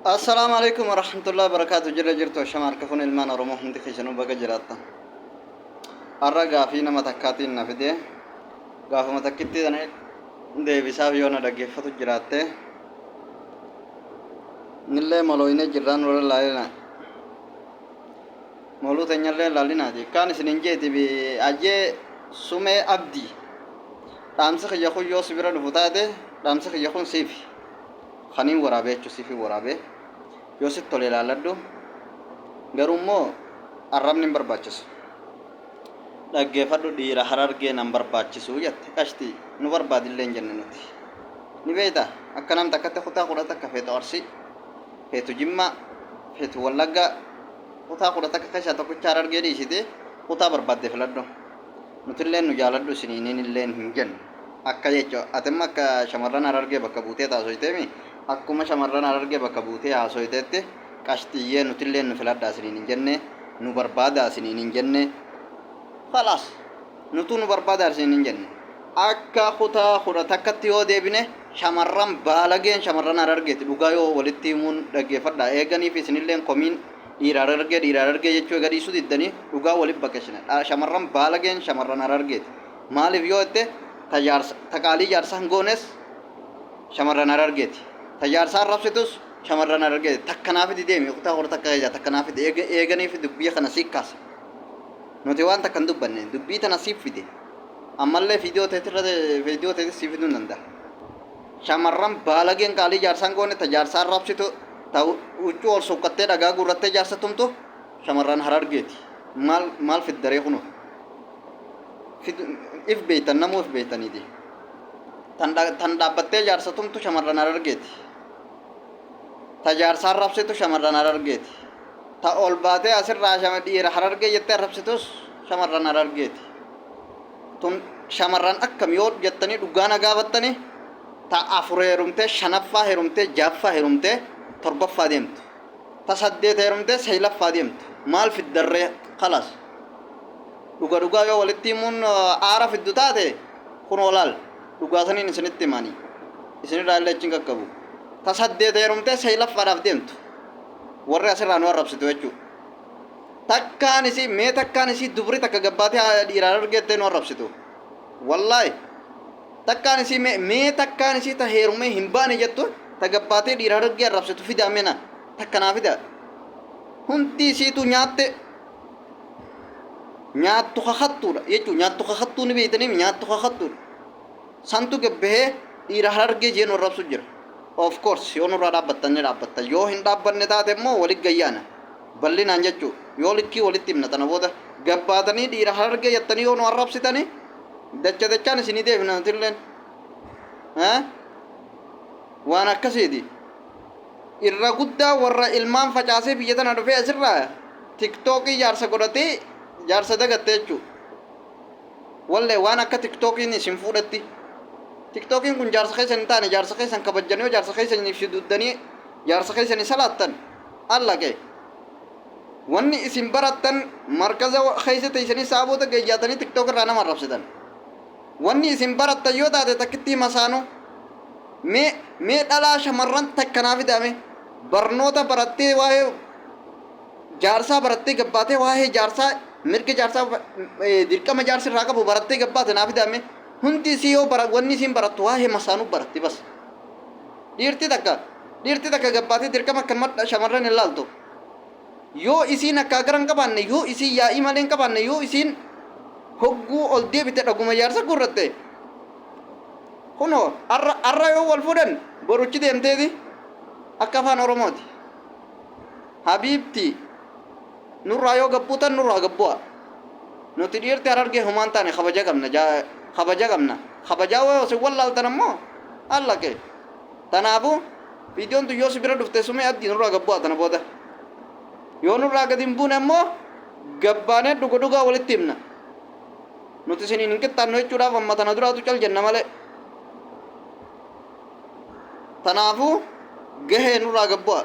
Assalaamu alaikum warahmatullahi wabarakaatu jirra jirtu ashama harka fuun ilmaan oromoo hundi keessanuu baga jiraattan har'a gaafii nama takkaatiin na fide gaafuma takkitti sana deebisaaf yoo na dhaggeeffatu jiraatte nillee molooyinee jirraan warra laalina moluu teenyallee laalinaati kaan isinin jeeti bi ajee sumee abdii Dhaamsi kiyya kun yoo si bira dhufu taate dhaamsi kiyya kun siifi. Kaniin waraabee jechuun siifin waraabee yoo sitti tole ilaalladhu garuu immoo arrabni hin barbaachisu. Dhaggeeffadhu dhiira harargee nan barbaachisu jette qashtii nu barbaadillee hin jenne nuti. Ni beekta akka nam takkatti kutaa kudha takka feetu arsii feetu jimmaa feetu wallaggaa kutaa kudha takka keessaa tokkicha harargee dhiisitee kutaa barbaadde filadhu. Nutilleen nu jaaladhu isiniininilleen hin jennu. Akka jecha ati amma akka shamarran Harargee bakka buuteet haasoyteemi? Akkuma shamarran Harargee bakka buutee haasoyteetti qashxiyyee nutilleen nu filadhaa isiniin hin jenne, nu barbaadaa isiniin hin jenne. Khalaas! Nutuu nu barbaadaa isiniin hin jenne. Akka kutaa 11tti yoo deebine shamarran baalageen shamarran Harargeeti dhugaa yoo walitti himuun dhaggeeffadhaa eeganiifi isinilleen komiin Dhiira Harargee Dhiira Harargee jechuu ega dhiisuu diddanii dhugaa wali baqesina dha shamarran baalageen shamarran Harargeeti maaliif yoo jette ta jaarsa ta qaalii jaarsa hin goones shamarran Harargeeti ta jaarsa arrabsitus shamarran Harargeeti takka naa fidi deemi uktaa hor takka ija takka naa fidi eega eeganiif dubbii kana sii kaase nuti waan takka hin dubbanne dubbii tana siif fide ammallee fiidiyoo teetirra fiidiyoo teetis sii fiduu hin danda'a Shamarran baalageen qaalii jaarsaa hin goone ta jaarsa arrabsitu, ta huccuu ol suuqqattee dhagaa guurrattee jaarsa tumtu shamarran Harargeeti. Maal maal fidda ree kunoo? Fid- If beektan namuu if beektaniiti. Tan dha- tan dhaabbattee jaarsa tumtu shamarran Harargeeti. Ta jaarsa arrabsitu shamarran Harargeeti. Ta ol baatee asirraa shama- dhiira Harargee jettee arrabsitus shamarran Harargeeti. Tun shamarran akkam yoo jettanii dhugaa na gaafattanii ta afur heerumtee shanaffaa heerumtee ja'affaa heerumtee torbaffaa deemtu ta saddeet heerumtee saylaffaa deemtu maal fiddarree kalas dhuga dhugaa yoo walitti himuun aara fiddu taate kun olaal dhugaa saniin isinitti himanii isinirraa illee achiin qaqqabu ta saddeet heerumtee saylaffaadhaaf deemtu warri asirraa nu arrabsitu jechuudha. takkaan isii mee takkaan isii dubri takka gabbaatee haadha dhiiraan argettee nu arrabsitu wallaahi takkaan isii mee mee takkaan isii ta heerumee hin baane jettu ta gabbaatee dhiiraan argee arrabsitu fidaa mena takka naa fidaa hundi isiitu nyaatte nyaattu kakattuudha jechuun nyaattu kakattuu ni beektaniif nyaattu kakattuudha Santu gad bahee dhiira harargee jee nu arrabsu jira. Of course yoo nurraa dhaabbattan ni dhaabbatta. Yoo hin dhaabbanne taate immoo walit gayyaana. Ballinaan jechuu. Yoo likkii walitti himna tana booda. Gad baatanii dhiira harargee jettanii yoo nu arrabsitani dacha dachaan isinii deebina nutilleen. Haa? Waan akkasiiti. Irra guddaa warra ilmaan facaasee biyya tana dhufee asirraa tiktookii jaarsa godhatee jaarsa dagatte jechuu. Wallee waan akka tiktokiin isin fuudhetti tiktokiin kun jaarsa keessan hin taane jaarsa keessan kabajjan yoo jaarsa keessaniif suduuddanii jaarsa keessanii salaattan allaqe wanni isin barattan markaza keessa teessanii sa'a booda geeyyaatanii tiktok irraa nama arrabsitan wanni isin barattan yoo taate takkittii masaanuu mee mee dhalaa shamarran takka naa fidaame barnoota barattee waa'ee jaarsaa barattee gabbaatee waa'ee jaarsaa mirga jaarsaa eh, dirqama jaarsi irraa qabu barattee gabbaate naa fidaame hundi isii yoo bara wanni isiin barattu waa'ee masaanuu baratti bas dhiirti takka dhiirti takka gabbaatee dirqama akka madha shamarran hin laaltu yoo isiin akka gara hin qabaanne yoo isiin yaa'ii malee hin qabaanne yoo isiin hogguu ol deebite dhaguma jaarsa gurratte kunoo arra arra yoo wal fuudhan boruchi deemteeti akka afaan oromooti habiibtii nurraa yoo gabbuutan nurraa gabbu'a nuti dhiirti harargee homaan taane kabaja qabna jaa- kabaja qabna kabajaa wayoo sin wallaaltan ammoo haala kee tanaafu viidiyoon tun yoo si bira dhufte sumee abdii nurraa gabbu'a tana booda yoo nurraa gadi hin buune ammoo gabbaanee dhuga dhugaa walitti himna nuti isiniin hin qixxaannu jechuudhaaf amma tana duraatu cal jenna malee Tanaafuu gahee nurraa gabbu'aa.